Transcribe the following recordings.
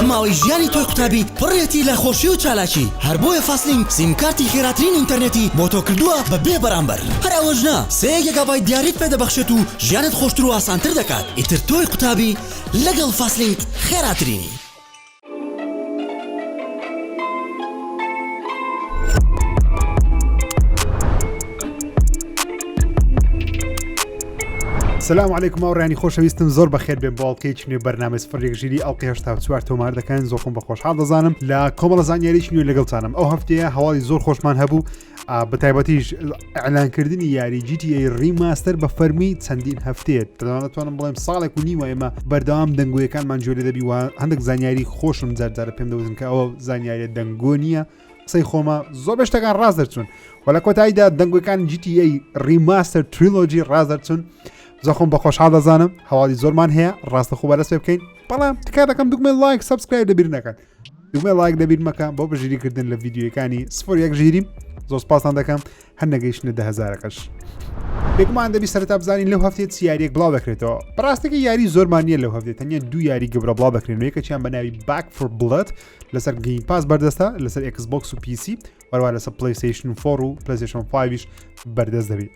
ئەم ماوەی ژیانی تۆی قوتابی پڕێتی لە خۆشی و چالاکی هەر بۆیە فاستلینک سیمکارتی خێراترین ئینتەرنێتی بۆ تۆ کردووە بە بێ بەرامبەر هەر ئەوەش نا سێ گێگابای دیاریت پێ دەبەخشێت و ژیانت خۆشتر و ئاسانتر دەکات ئیتر تۆی قوتابی لەگەڵ فاستلینک خێراترینی. سلام عیکم و ڕێنی خۆشەویستم زۆر بەخێت بێ باڵکەی چنێ بەرنامە سفرێک ژیری ئەڵ هشتا چوار تۆمار دەکەن زۆخم بە خۆشحاڵ دەزانم لە کۆمەڵە زانیاریش نوێ لەگەڵتانم ئەو هەفتەیە هەواڵی زۆر خۆشمان هەبوو بەتایبەتیش ئەلانکردنی یاری GTA ڕیماستەر بە فەرمی چەندین هەفتێت دەدانەتوانم بڵێم ساڵێک و نیوە ئێمە بەردەوام دەنگویەکانمان جوێ دەبی وە هەندێک زانیاری خۆشم جارجارە پێم دەوتن کە ئەوە زانیاریە دەنگۆ نییە قسەی خۆمە زۆر بەشتەکان ڕاست دەرچوون و لە کۆتاییدا دەنگەکان GTA ڕیماستەر تریلۆجی ڕاست دەرچوون زەخۆم بە خۆشحاڵ دەزانم هەواڵی زۆرمان هەیە ڕاستە خۆ بەرەسێ بکەین بەڵام تکا دەکەم دکمێن لایک سبسکرایب دەبیر نەکەن دوگمەی ڵایک دەبیر مەکە بۆ بەژیری کردن لە ڤیددیوەکانی سفر یەک ژیری زۆر سپاسان دەکەم هەر نەگەیشتە دە هزارەکەش بێگومان دەبی سەرتا بزانین لەو هەفتێ سیاریەک بڵاو دەکرێتەوە بەڕاستەکە یاری زۆرمان نییە لەو هەفتێت تەنیا دوو یاری گەورە بڵاو دەکرێنەوەی کە چیان بەناوی باک فر بڵێت لەسەر گەین پاس بەردەستە لەسەر ئەکسبکس و پیسی وەروان لەسەر پلیسیشن فۆڕ و پلیسیشن 5 بەردەست دەبێت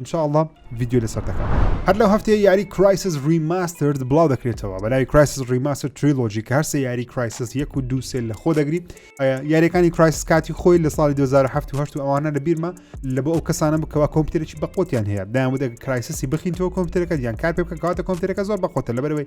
ان شاء اللە ڤیدیۆ لەسەر دەکەم هەر لەو هەفتەیە یاری کرایسس ریماسترد بڵاو دەکرێتەوە بەلاوی کرایسس ریماستر تریلۆژی کە هەرسە یاری کرایسس یەک و دوو سێل لە خۆ دەگری یاریەکانی کرایس کاتی خۆی لە ساڵی 2007 ئەوانە لە بیرمە لە بۆ ئەو کەسانە بکەوە کۆمپیوتەرێکی بەقوتیان هەیە دایان بدە کرایسسی بخینەوە کۆمپیوتەرەکە یان کار پێ بکە کاتە کۆمپیوتەرەکە زۆر بەقوتە لەبەرەوەی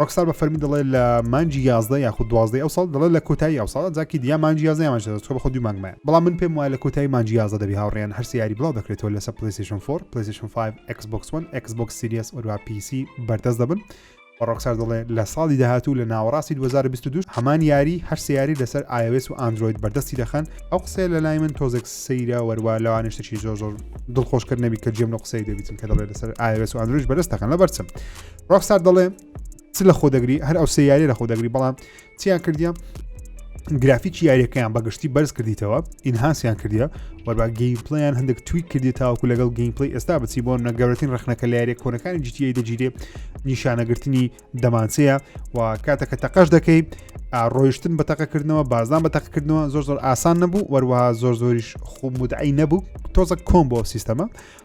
ڕۆکسار بە فەرمی دەڵێت لە مانجی یازدە یاخود دوازدەی ئەو ساڵ دەڵێت لە کۆتایی ئەو ساڵ جاکی دیا مانجی یازدە یامان شەدە چکە بە خۆ دوو مانگمایە بەڵام من پێم وایە لە کۆتایی مانجی یازدە دەبی هاوڕێیان هەرسێ یاری بڵاو دەکرێتەوە لەسەر پلەیستێشن 4 پلەیستێشن 5 Xbox One Xbox Series وەروە PC بەردەست دەبن و ڕۆکسار دەڵێ لە ساڵی داهاتوو لە ناوەڕاستی 2022 هەمان یاری هەر سیاری لەسەر iOS و ئاندروید بەردەستی دەخەن ئەو قسەیە لە لای من تۆزێک سەیرە وەروە لەوانشتەکی زۆر زۆر دڵخۆشکرد نەبی کە جێم لە قسەی دەبیتن کە دەڵێت لەسەر iOS و ئاندروید بەدەست دەخەن لە بەرچم ڕۆکسار دەڵێ چ لە خۆ دەگری هەر ئەو سێ یاری لە خۆ دەگری بەڵام چیان کردیان گرافیکی یاریەکەیان بەگشتی بەرز کردیتەوە ئینهاسیان کردە وەربا گەیمپلیان هەندێک توی کردی تاوکو لەگەڵ گەیمپلی ئێستا بچی بۆ نەگەورەتین ڕخنەکە لە یاریە کۆنەکانی جیتیی دەگیرێ نیشانەگرتنی دەمانچەیە و کاتەکە تەقەش دەکەیت ڕۆیشتن بە تەقەکردنەوە بازدان بە تەقکردنەوە زۆر زۆر ئاسان نەبوو وەروەها زۆر زۆریش خومودعی نەبوو تۆزە کۆم بۆ سیستەمە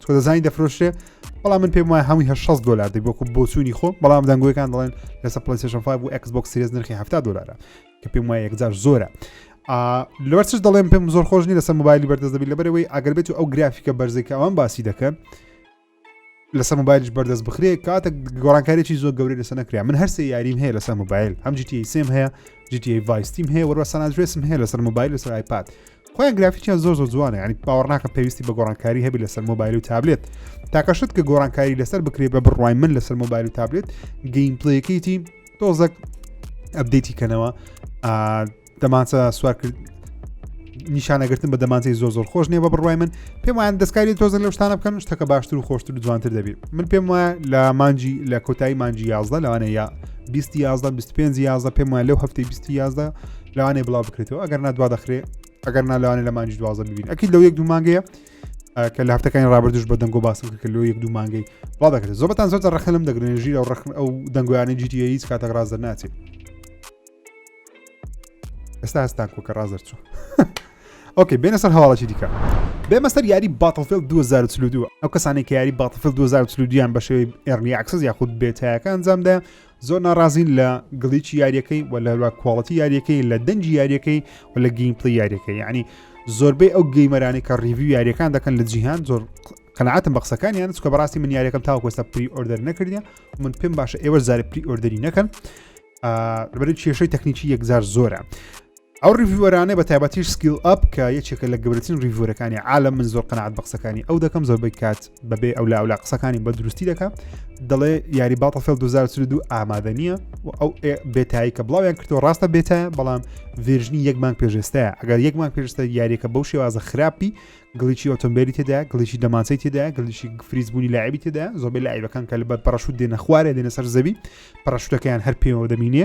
تۆ دەزانی دەفرۆشرێ بەڵام من پێم وایە هەمووی هە 6 دلار دی بۆکو بۆچوونی خۆ بەڵام دەنگوەکان دەڵێن لەسە پلیسشن 5 و ئەکسبک سریز نرخی ه دلارە کە پێم وایە یەکجار زۆرە لەوەرچ دەڵێم پێم زۆر خۆشنی لەسەر موبایلی بەردەست دەبی لەبەرەوەی ئەگەر بێت و ئەو گرافیکە بەرزێکە ئەوان باسی دەکەن لەسەر موبایلش بەردەست بخرێ کاتە گۆڕانکارێکی زۆر گەورە لەسە نەکریا من هەرسێ یاریم هەیە لەسەر موبایل هەم جیتی سم هەیە جیتی ڤایستیم هەیە وەروە سانادرێسم هەیە لەسەر موبایل لەسەر آیپاد خۆیان گرافیکیان زۆر زۆر جوانە ینی باوەڕناکە پێویستی بە گۆڕانکاری هەبی لەسەر مۆبایل و تابلێت تاکەشت کە گۆڕانکاری لەسەر بکرێت بە بڕای من لەسەر مۆبایل و تابلێت گەیم پلەکەیتی تۆزەک ئەبدەیتی کەنەوە دەمانچە سوارکرد نیشانەگرتن بە دەمانچەی زۆ زۆر خۆش نیە بە بڕای من پێم وایان دەستکاری تۆزن لە شتانە بکەن شتەکە باشتر و خۆشتر و جوانتر دەبێت من پێم وایە لە مانجی لە کۆتایی مانجی یازدە لەوانەیە 20 یازدە 25 یازدە پێم وایە لەو هەفتەی 20 یازدە لەوانێ بڵاو بکرێتەوە ئەگەر نا دوا دەخرێ ئەگەر نا لەوانێ لە مانجی دوازە ببین ئەکی لەو یەک دوو مانگەیە کە لە هەفتەکانی ڕابردوش بە دەنگۆ باسم کە لۆ یەک دوو مانگەی بڵا دەکرێت زۆبەتان زۆر ڕخە لەم دەگرێن ژیر و ڕخن ئەو دەنگویانە جیتی هیچ کاتەک ڕاز دەناچێت ئێستا هەستان کۆکە ڕاز دەرچوو ئۆکەی بێنە سەر هەواڵەی دیکە بێمە سەر یاری باتڵفل 2022 ئەو کەسانی کە یاری باتڵفل 2022یان بە شێوەی ئێرنی ئاکسس یاخود بێتایەکان جامدا زۆر ناڕازین لە گڵیچی یاریەکەی و لە کواڵەتی یاریەکەی لە دەنجی یاریەکەی و لە گەیمپلی یاریەکەی ینی زۆربەی ئەو گەیمەرانی کە ڕیوی یاریەکان دەکەن لە جیهان زۆر قەنعاتم بە قسەکانیان چکە بەڕاستی من یاریەکەم تاوکۆستا پری ئۆردەر نەکردە من پێم باشە ئێوە زارە پری ئۆردەری نەکەن بەرە کێشەی تەکنیکی یەکجار زۆرە ئەو ڕیڤوەرانە بە تایبەتیش سکیل ئەپ کە یەکێکە لە گەورەترین ڕیڤۆرەکانی عالم من زۆر قەنەعات بە قسەکانی ئەو دەکەم زۆربەی کات بەبێ ئەو لا ئەولا قسەکانی بە دروستی دەکات دەڵێ یاری باڵ فێل 2022 ئامادە نییە و ئەو بێتایی کە بڵاویان کردەوە ڕاستە بێتە بەڵام ڤێژنی یەکمان پێشێستەیە ئەگەر یەکمان پێشستە یاریەکە بەو شێوازە خراپی گڵیی ئۆتۆمبیلی تێدا گڵیی دەمانچەی تێدا گلیشی فریزبوونی لایبی تێدا زۆبێ لایبەکان کە لە بەر پەڕشوت دێنە خوارێ دێنە سەر زەوی پەڕشتەکەیان هەر پێوە دەمینێ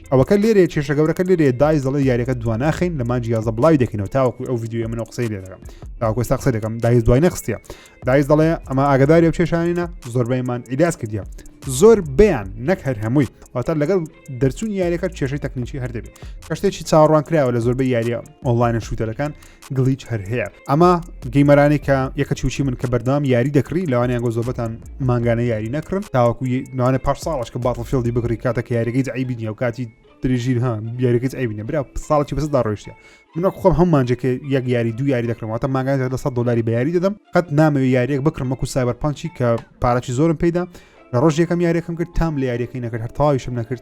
ئەوەکە لێرەیە کێشە گەورەکە لێرەیە دایز دەڵێ یاریەکە دواناخین لە مانجی یازە بڵاوی دەکەینەوە تاوەکو ئەو یددیوە منە قسەی لێ دەکەم تاوەکو سا قسە دەکەم دایز دوای نەخستە دایز دەڵێ ئەمە ئاگداری و کێشانینە زۆربەیمان ئیلاس کردە زۆر بیان نەک هەر هەمووی واتە لەگەڵ دەرچوون یاریەکە کێشەی تەکنیکی هەردەبێت کەشتێکی چاڕوان کراوە لە زۆربەی یاریە ئۆنلاینە شووتەرەکان گلیچ هەر هەیە ئەما گەیمەرانی کە یەکە چوچی من کە بەردام یاری دەکری لەوانیان گۆ زۆبەتان مانگانە یاری نەکرن تاوەکو نوانە پاش ساڵش کە باتڵ فیلدی بگری کاتە کە یاریگەی عیبی نیە و کاتی درێژیر ها یاریگەت ئەبینە برا ساڵی بەسدا ڕۆشتە منە خۆم هەم مانجەکە یەک یاری دو یاری دەکرمەوەتە ماگان لە سە دلاری بەیاری دەدەم قەت نامەوێ یاریەک بکرم وەکو سایبەر پانچی کە پارەی زۆرم پیدا لە ڕۆژ یەکەم یاریەکەم کرد تام لە یاریەکەی نەکرد هەر تاویشم نەکرد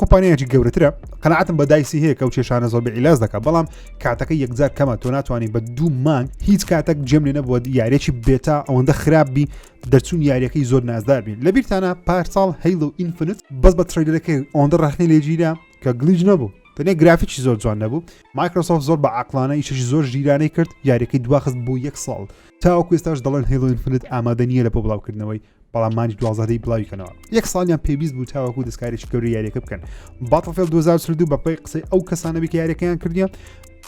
کۆمپانیایکی گەورەترە قەنعاتم بە دایسی هەیە کە و کێشانە زۆر بە ئیلاز دەکە بەڵام کاتەکە یەکجار کەمە تۆ ناتوانانی بە دوو مانگ هیچ کاتەک جێم لێ نەبووە یارێکی بێتا ئەوەندە خراپ بی دەرچوون یاریەکەی زۆر نازدار بین لە بیرتانە پارساڵ هەیل و ئینفنت بەس بە تریلەکەی ئەوەندە ڕخنی لێگیرا کە گلیج نەبوو تەنێ گرافیکی زۆر جوان نەبوو مایکرۆسۆف زۆر بە عقلانە ئیشش زۆر ژیرانەی کرد یاریەکەی دواخست بوو یەک ساڵ تاوەکوێستاش دەڵێن هێڵۆینفنت ئامادە نیە لە بۆ بڵاوکردنەوەی بەڵام مانجی دوازدەی بڵاوی کەنەوە یەک ساڵیان پێویست بوو تاوەکو دەستکارێکی گەوری یاریەکە بکەن باتڵفێل 2022 بەپی قسەی ئەو کەسانەبی کە یاریەکەیان کردیان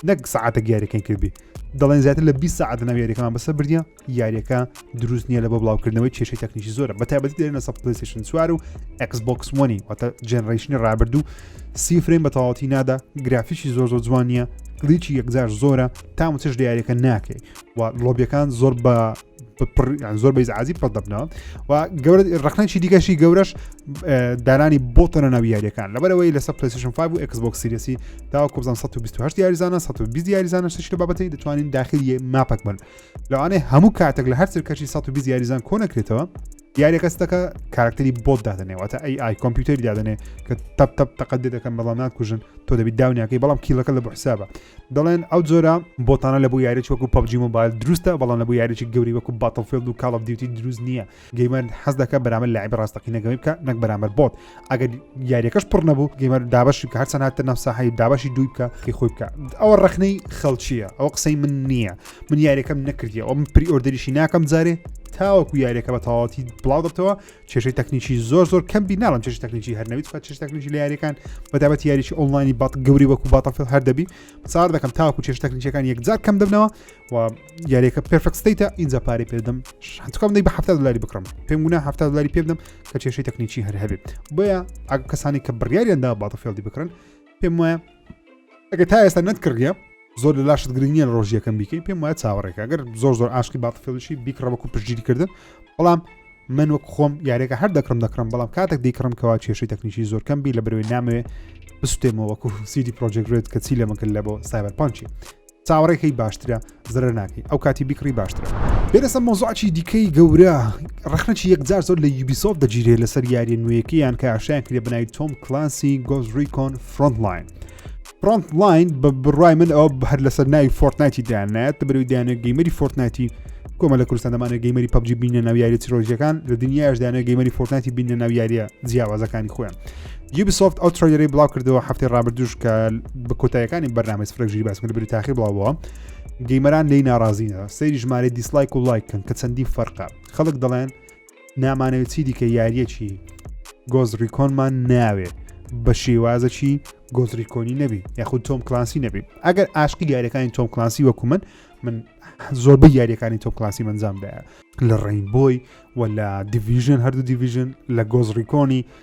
نەک سعاتە یاریەکەی کردی دەڵێن زیاتر لە 20 ساعت ناو یاریەکەمان بەسە بردە یاریەکە دروست نییە لە بۆ بڵاوکردنەوەی کێشەی تەکنیکی زۆرە بە تابەتی دێنە سە پلیسیشن سوار و ئەکسبکس وەنی واتە جنرەیشنی ڕابردوو سی فرێن بە تەواتی نادا گرافیشی زۆر زۆر جوانە گلیچی یەکجار زۆرە تامچش دیارەکە ناکەی و لۆبیەکان زۆر بە زۆر بەیز عزیب پەت دەبنەوە و گەورە ڕخنەی دیگەشی گەورەش دانانی بۆ تەنە ناوی یاریەکان لەبەرەوەی لەسەر پلیسیشن 5 و Xbox سیرسی تا کوزان 1920 یاریزانە 1920 یاریزانە شتێک بابەتی دەتوانین داخلی ماپەک بن لەوانێ هەموو کاتێک لە هەر سەرکەشی 1920 یاریزان کۆنەکرێتەوە دیارەکە ستەکە کارکتری بۆت دادنێوەتە ئەی ئای کۆمپیوتەری دادنێ کە تەپ تەپ تەقەت دێ دەکەم بەڵام ناکوژن تۆ دەبی داونیاکەی بەڵام کیلەکە لە بۆ حسابە دەڵێن ئەو جۆرە بۆتانە لە بۆ یاریی وەکو پبجی مۆبایل دروستە بەڵام لە بۆ یاریی گەوری وەکو باتڵفلد و کاڵ دیوتی دروست نییە گەیمەر حەز دەکە بەرامە لای بەڕاستەقینەگەوەی بکە نەک بەرامەر بۆت ئەگەر یاریەکەش پڕ نەبوو گەمەر دابش بکە هەرچە ناتە ناو ساحی دابشی دووی بکە کە خۆی بکە ئەوە ڕخنەی خەڵچیە ئەو قسەی من نییە من یاریەکەم نەکردی ئەو من پری ئۆردەریشی ناکەم جارێ تاوەکو یاریەکە بە تەواتی بڵاو دەبتەوە کێشەی تەکنیکی زۆر زۆر کەم بی ناڵم چێش تەکنیکی هەرنەویت فە چێش تەکنیکی لە یاریەکان بەدابەت یاریی ئۆنلاینی بەڵ گەوری وەکو باتەفل هەر دەبی سار دەکەم تاوەکو چێش تەکنیکەکان یەکجار کەم دەبنەوە و یاریەکە پرفکت ستیتە ئینجا پارەی پێدەم شتکەم دەی بە ه دلاری بکڕم پێم گونا ه دلاری پێدەم کە کێشەی تەکنیکی هەر هەبێت بۆیە ئەگ کەسانی کە بڕیاریاندا باتە فێڵدی بکرن پێم وایە ئەگە تا ئێستا نەتکردە زۆر لە لاشت گرنگە لە ڕۆژیەکەم بیکەی پێم وایە چاوەڕێکە گەر زۆر زۆر ئاشقی باتفێڵشی بیکڕەوەکو پشتگیری کردن بەڵام من وەک خۆم یاریەکە هەر دەکڕم دەکڕم بەڵام کاتێک دیکڕم کەوا کێشەی تەکنیکی زۆر کەم بی لە برەوەی نامەوێ بستێمەوەکو سیدی پرۆژێکرێت کە چی لە مەکرد لە بۆ سایبەر پانچی چاوەڕێ کەی باشترە زرە ناکەی ئەو کاتی بیکڕی باشترە بێرەسە مۆزعچی دیکەی گەورە ڕخنەچی یەکجار زۆر لە یوبیسۆف دەگیرێت لەسەر یاریە نوێیەکەیان کە ئاشیان کرێ بنای تۆم کلانسی گۆز ریکۆن فرۆنتلاین فرۆنت لاین بە بڕای من ئەو هەر لەسەر ناوی فۆرتنایتی دانایەت بەرەوەی دانە گەیمەری فۆرتنایتی کۆمە لە کوردستان دەمانە گەیمەری پبجی بینە ناو یاری چیرۆژیەکان لە دنیاش دانە گەیمەری فۆرتنایتی بینە ناو یاریە جیاوازەکانی خۆیان یوبیسۆفت ئەو ترۆیری بڵاو کردەوە هەفتی ڕابردوش کە بە کۆتایەکانی بەرنامەی سفرەژیری باس کرد بری تاخیر بڵاوەوە گەیمەران لی ناڕازینە سەیری ژمارە دیسلایک و لایکن کە چەندی فەرقە خەڵک دەڵێن نامانەوە چی دیکە یاریەکی گۆز ڕیکۆنمان ناوێ بە شێوازەکی گۆزریکۆنی نەبی یاخود تۆم کلاسی نەبی ئەگەر ئاشقی یاریەکانی تۆم کلاسی وەکو من من زۆربە یاریەکانی تۆم کلاسی منجامدایە لە ڕین بۆی و لە دیڤژن هەردوو دیڤژن لە گۆزریکۆنی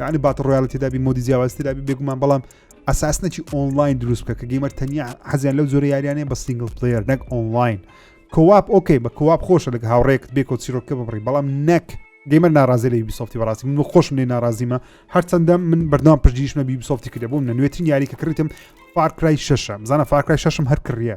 یعنی باتە ڕۆیاڵە تێدابی مۆدی جیاواز تێدابی بێگومان بەڵام ئەساسنەکی ئۆنلاین دروست بکە کە گەیمەر تەنیا حەزیان لەو زۆرە یاریانە بە سنگل پلیر نەک ئۆنلاین کۆواپ ئۆکەی بە کۆواپ خۆشە لەگە هاوڕێکت بێکۆ چیرۆکە ببڕی بەڵام نەک گەیمەر ناڕازی لە بیسۆفتی بەڕاستی من خۆشم لێ ناڕازیمە هەرچەندە من بەردام پشتگیشمە بیسۆفتی کردە بۆم نە نوێترین یاری کە کڕیتم فارکرای شەشە بزانە فارکرای شەشم هەر کڕە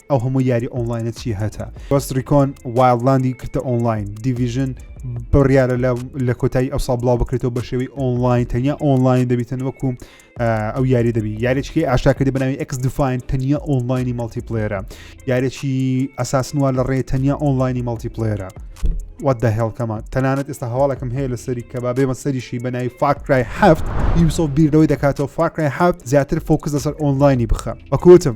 ئەو هەموو یاری ئۆنلاینە چی هەتا بەس ریکۆن وایلدلاندی کردە ئۆنلاین دیڤژن بڕیاە لە کۆتایی ئەو سا بڵاو بکرێتەوە بە شێوەی ئۆنلاین تەنیا ئۆنلاین دەبیتن وەکو ئەو یاری دەبی یاریچکی ئاشاکردی بناوی ئەکس دوفاین تەنیا ئۆنلاینی مەڵتی پلێرە یارێکی ئەساسنووە لە ڕێ تەنیا ئۆنلاینی مەڵتی پلێرە وات دە هێڵکەمە تەنانەت ئێستا هەواڵەکەم هەیە لە سەری کە با بێمە سەریشی بەناوی فاکرای هەفت یوسۆ بیردەوەی دەکاتەوە فاکرای هەفت زیاتر فۆکس لەسەر ئۆنلاینی بخە بەکوتم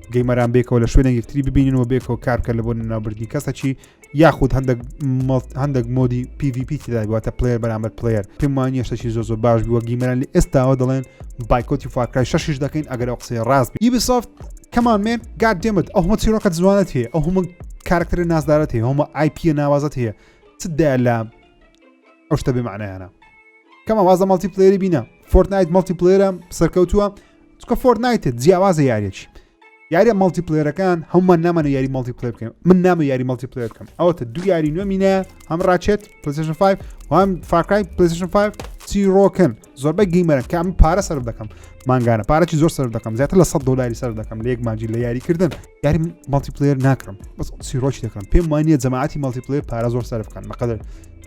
گەیمەران بێکەوە لە شوێنە یەکتری ببینن و بێکەوە کار بکە لە بۆ ناوبردنی کەسەکی یاخود هەندێک هەندێک مۆدی PVP تداگواتە پلێر بەرامبەر پلێر پێمانە شتەکی زۆ زۆ باش بووە گیمەران لە ئێستاوە دەڵێن بایکۆتی فاکرای شش دەکەین ئەگەر ئەو قسەی ڕاست یبسافت کەمان مێن گات دێمت ئەو هەمە چیرۆکە جوانت هەیە ئەو هەمە کارکتەر نازدارەت هەیە هەمە آیP ناوازت هەیە چ دای لە ئەو شتە بێمانەیانە کەمە وازە مەڵتی پلێری بینە فۆرتنایت مەڵتی پلێرە سەرکەوتووە چکە فۆرنایتت جیاوازە یاریێکی یاریە مەڵتی پلێرەکان هەمومان نامانە یاری مەڵتی پلێ بکەم من نامە یاری مەڵتی پلێ بکەم ئەوەتە دو یاری نوێ مینە هەم ڕاچێت پلیشن 5 وام فاکای پلیشن 5 چی ڕۆکن زۆربەی گەیمەرن کە من پارە سەر دەکەم مانگانە پارەی زۆر سەر دەکەم زیاتر لە 100 دلاری سەر دەکەم لە یەک ماجی لە یاریکردن یاری مەڵتی پلێر ناکەم بەس سیرۆکی دەکەم پێم وانە جەماعتی مەڵتی پلێ پارە زۆر سەرفکان بەقدر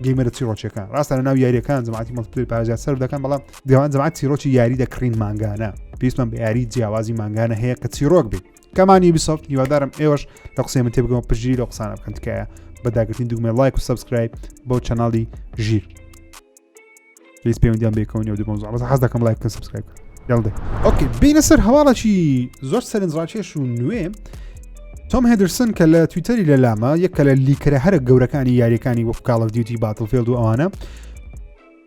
گەیمەرە چی ڕۆچەکان ڕاستە لە ناو یاریەکان جەماعتی مەڵتی پارێزیان سەر دەکەن بەڵام دیوان جەماعەت چیرۆکی یاری دەکڕین مانگانە پێویستمان بە یاری جیاوازی مانگانە هەیە کە چیرۆک بێت کەمانی بیسەفت هیوادارم ئێوەش لە قسەی من تێبگەمە پژیری لە قسانە بکەن تکایە بەداگرتنی دوگمە لایک و سبسکرایب بۆ چەناڵی ژیر پێویست پەیوەندیان بێکەونی و دوبم زۆڵ حەز دەکەم لایکن سبسکرایب یاڵدێ ئۆکی بینە سەر هەواڵەکی زۆر سەرنجڕاکێش و نوێ تۆم هێدرسن کە لە تویتەری لە لامە یەکە لە لیکرە هەرە گەورەکانی یاریەکانی وەفکاڵە دیوتی باتڵفێلد و ئەوانە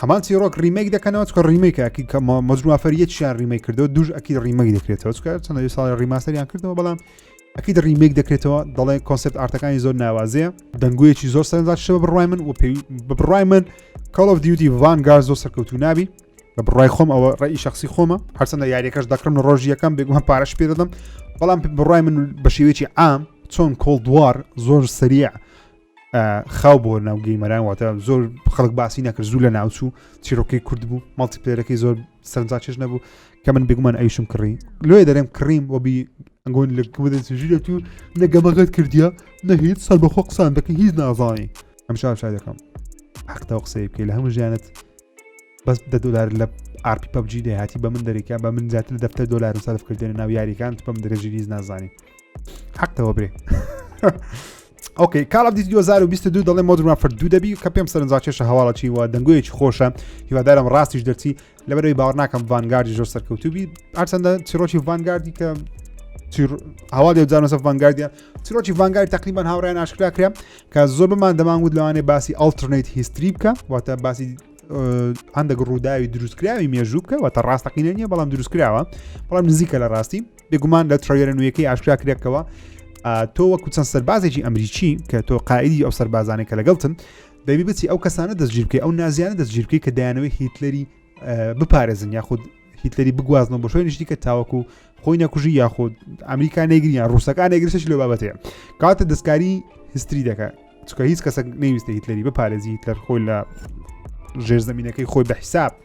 هەمان چیرۆک ریمەیک دەکەنەوە چکە ریمەیکاکی کەمە مەجموافەریەتیان ریمەی کردەوە دوش ئەکی ریمەی دەکرێتەوە چکە چەند ساڵ ریماستەریان کردەوە بەڵام ئەکیت ریمێک دەکرێتەوە دەڵێ کۆنسپت ئارتەکانی زۆر ناوازەیە دەنگویەکی زۆر سەردا شەوە بڕای من و پێوی بە بڕای من کاڵ of دیوتی ڤانگار زۆر سەرکەوتو نابی بە بڕای خۆم ئەوە ڕێی شخصی خۆمە هەرچەندە یاریەکەش دەکڕم ڕۆژی یەکەم بێگومە پارەش پێ دەدەم بەڵام بڕای من بە شێوێکی عام چۆن کۆڵ دووار زۆر سریع خاو بۆ ناو گەیمەران واتە زۆر خەڵک باسی نەکرد زوو لە ناوچوو چیرۆکەی کورد بوو مەڵتی پلێرەکەی زۆر سەرنجاچێش نەبوو کە من بگومان ئەیشم کڕی لێ دەرم کڕیم وەبی ئەنگۆن لە ژیرەت و نەگەمەگەت کردیا نە هیچ سەر بەخۆ قسان دەکە هیچ نازانی ئەم شار شای دەکەم حەقتا قسەی بکەی لە هەموو ژیانت بەس دە دلار لە ئارپی پبجی دەهاتی بە من دەریکا بە من زیاتر دەفتەر دلار سەرف کردێنە ناو یاریەکان پم درێژیریز نازانین حەقەوە برێ ئۆکەی کاڵ دی 2022 دەڵێ مۆدرما فردوو دەبی کە پێم سەرنجا کێشە هەواڵەچی وە دەنگویەکی خۆشە هیوادارم ڕاستیش دەرچی لەبەرەوەی باوەڕ ناکەم ڤانگاردی زۆر سەرکەوتوبی ئارچەندە چیرۆکی ڤانگاردی کە هەوا دێزانەسە ڤانگاردە چیرۆکی ڤانگاری تقریبان هاوڕیان ئاشکرا کرا کە زۆر بمان دەمانگووت لەوانێ باسی ئەلترنیت هیستری بکە واتە باسی هەندێک ڕووداوی دروستکراوی مێژوو بکە وە تا ڕاستەقینە نیە بەڵام دروستکراوە بەڵام نزیکە لە ڕاستی بێگومان لە تڕوێرە نوێیەکەی ئاشکرا کرێکەوە تۆ وەکو چەند سەربازێکی ئەمریکی کە تۆ قائدی ئەو سەربازانە کە لەگەڵتن دەبی بچی ئەو کەسانە دەستگیرکە ئەو نازیانە دەستگیرکە کە دایانەوەی هیتلەری بپارێزن یاخود هیتلەری بگوازنەوە بۆ شوێن نیشتی کە تاوەکو خۆی نەکوژی یاخود ئەمریکا نەگریان ڕووسەکان نەگرسەش لە بابەتەیە کاتە دەستکاری هستری دەکە چکە هیچ کەسە نەویستە هیتلەری بپارێزی هیتلەر خۆی لە ژێر زمینەکەی خۆی بە حیساب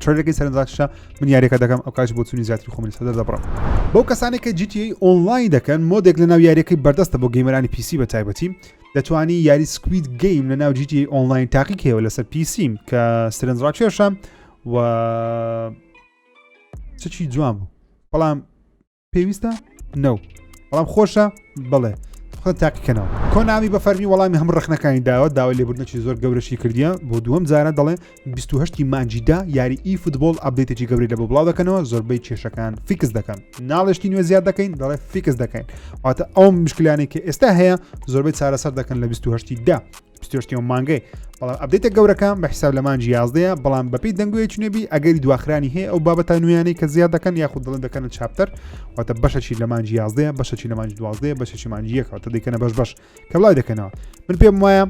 ترێکی سەرنجاکشە من یاریەکە دەکەم ئەو کاش بۆ چونی زیاتری خۆمن سەدەر دەبڕم بۆ کەسانی کە جیتی ئۆنلاین دەکەن مۆدێک لە ناو یاریەکەی بەردەستە بۆ گەیمەرانی پیسی بە تایبەتی دەتوانی یاری سکویت گەیم لە ناو جیتی ئۆنلاین تاقی کێوە لەسەر پیسیم کە سرنجڕاکێشە و چی جوان بوو بەڵام پێویستە نەو بەڵام خۆشە بڵێ خۆ تاقیکەنەوە کۆنامی بە فەرمی وەڵامی هەم ڕخنەکانی داوە داوای لێبوردنەکی زۆر گەورەشی کردیە بۆ دووەم جارە دەڵێ 28 مانجیدا یاری ئی فوتبۆل ئەبدێتێکی گەوری لە بۆ بڵاو دەکەنەوە زۆربەی کێشەکان فیکس دەکەن ناڵشتی نوێ زیاد دەکەین دەڵێ فیکس دەکەین واتە ئەو مشکلانی کە ئێستا هەیە زۆربەی چارەسەر دەکەن لە 28دا پتۆشتیەوە مانگەی بەڵام ئەبدەیتە گەورەکان بە حساب لە مانجی یازدەیە بەڵام بەپی دەنگوێ چنێبی ئەگەری دواخرانی هەیە ئەو بابەتە نوێیانەی کە زیاد دەکەن یاخود دڵن دەکەن چاپتەر واتە بەشەچی لە مانجی یازدەیە بەشەچی لە مانجی دوازدەیە بەشەچی مانجیەکەوەتە دەکەنە بەش بەش کە بڵای دەکەنەوە من پێم وایە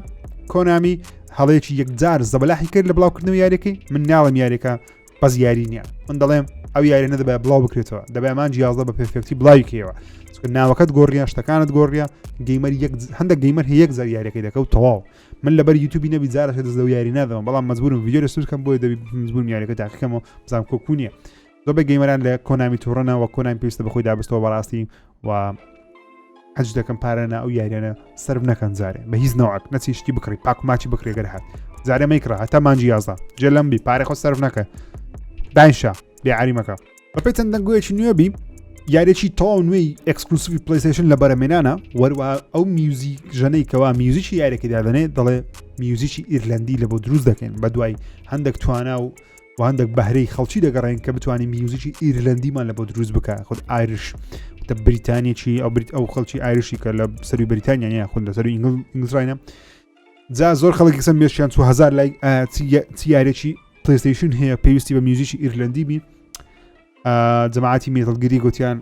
کۆنامی هەڵەیەکی یەکجار زەبلاحی کرد لە بڵاوکردنەوە یاریەکەی من ناڵم یاریەکە بەس یاری نییە من دەڵێم ئەو یاری نەدەبێ بڵاو بکرێتەوە دەبێ ئەمان جیازدە بە پێفێکتی بڵاوی کەوە ناوەکەت گۆڕیان شتەکانت گۆڕیە گەیمەر هەندێک گەیمەر هەیەک زار یاریەکەی دەکەوت تەواو من لەبەر یوتوبی نەبی زارە دەست لەو یاری نادەوە بەڵام مەزبورم ویددیو لەسوس کەم بۆی دەبی مزبوون یاریەکە تاقیکەمەوە بزانام کۆکوونیە زۆبە گەیمەران لە کۆنامی تۆڕەنەوە کۆنامی پێویستە بەخۆی دابستەوە بەڕاستی و حەج دەکەم پارە نا ئەو یاریانە سرف نەکەن جارێ بە هیچ نەوەک نەچی شتی بکڕی پاک ماچی بکرێ گەر هات جارێ مەیکڕە هەتا مانجی یازدا جێ لەم بی پارێ خۆ سرف نەکە داینشا بێعریمەکە بەپی چەند دەنگویەکی نوێبی یارێکی تەواو نوێی ئەکسکلوسیفی پلیسشن لە بەرەمێنانە وەروە ئەو میوزی ژەنەی کەوا میوزیکی یارێکی دادنێ دەڵێ میوزیکی ئیرلندی لە بۆ دروست دەکەن بە دوای هەندێک توانا و و هەندێک بەهرەی خەڵکی دەگەڕێن کە بتوانین میوزیکی ئیرلندیمان لە بۆ دروست بکە خود ئایرش تە بریتانیەکی ئەو بریت ئەو خەڵکی ئایرشی کە لە سەروی بریتانیا نیە خود لە سەروی ئینگلزراینە جا زۆر خەڵکی سم مێشیان 2000 لای تیارێکی پلیستیشن هەیە پێویستی بە میوزیکی ئیرلندی بی جەماعاتی مێتەڵگیری گوتیان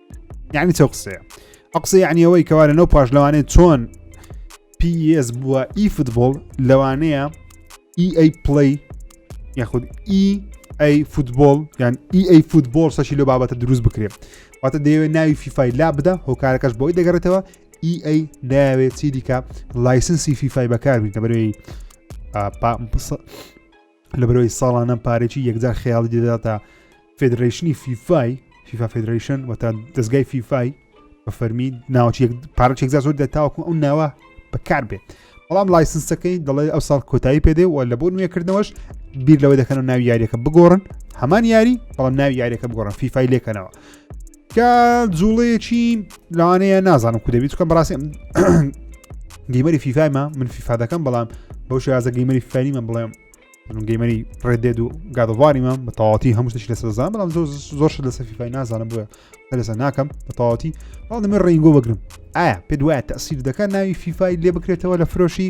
یعنی چەو قسەیە ئە قسە یعنی ئەوەی کەوا لە نەو پاش لەوانێ چۆن PS بووە ئی فوتبۆڵ لەوانەیە EA پلی یاخود EA فوتبۆڵ یان EA فوتبۆڵ سەشی لە بابەتە دروست بکرێت واتە دەیەوێت ناوی فیفای لا بدە هۆکارەکەش بۆی دەگەڕێتەوە EA ناوێت چی دیکە لایسنسی فیفای بەکاربین کە بەرەوەی لەبەرەوەی ساڵانە پارێکی یەکجار خەیاڵی دەداتە فدرشنی فیفای فیفا فدرشن و تا دەستگای فیفای بە فەرمی ناوچ پارچێک زۆر دە تاوەکو ئەو ناوە بەکار بێت بەڵام لایسنسەکەی دەڵێ ئەو ساڵ کۆتایی پێدێ و لە بۆ نوێکردنەوەش بیر لەوەی دەکەن و ناوی یاریەکە بگۆڕن هەمان یاری بەڵام ناوی یاریەکە بگۆڕن فیفای لێکەنەوە کە جوڵەیەکی لەوانەیە نازانم کو دەبیت کەم بەڕاستی گەیمەری فیفایمە من فیفا دەکەم بەڵام بەو شازە گەیمەری فەریمە بڵێم گەیمەری ڕێدێت و گادوواریمە بە تەواتی هەموو شتێکی لەسەر زان بەڵام زۆر زۆر شت لەسەر فیفای نازانم بووە لەسەر ناکەم بە تەواتی بەڵام دەمێ ڕینگۆ بگرم ئایا پێ دوایە تەسیر دەکات ناوی فیفای لێ بکرێتەوە لە فرۆشی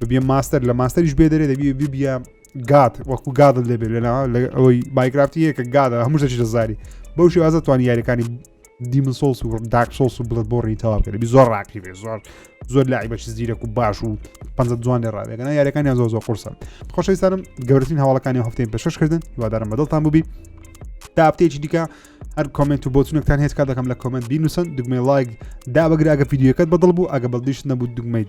ببیە ماستەر لە ماستەریش بێ دەرێ دەبی ببیە گات وەکو گادل دەبێت لەنا لە ئەوەی بایکرافتی یەکە گادە هەموو دەچی دەزاری بەو شێوازە توانی یاریەکانی دیمن سۆڵس و داک سۆڵس و بڵت بۆڕی تەواو کرد زۆر ڕاقی بێ زۆر زۆر لای بەچ زیرەک و باش و پ جوان لێ ڕاێگەنا یاریەکانی زۆ زۆ قرسە خۆشەویستانم گەورترین هەواڵەکانی هەفتەی پێشکردن هیوادارم بەدڵتان بووبی تا هەفتەیەکی دیکە هەر کمنت و بۆچونێکتان هێت کا دەکەم لە کمنت بینوسن دگمەی لایک دا بەگرراگە یددیوەکەت بەدڵ بوو ئەگە بەڵدیش نەبوو دگمەیت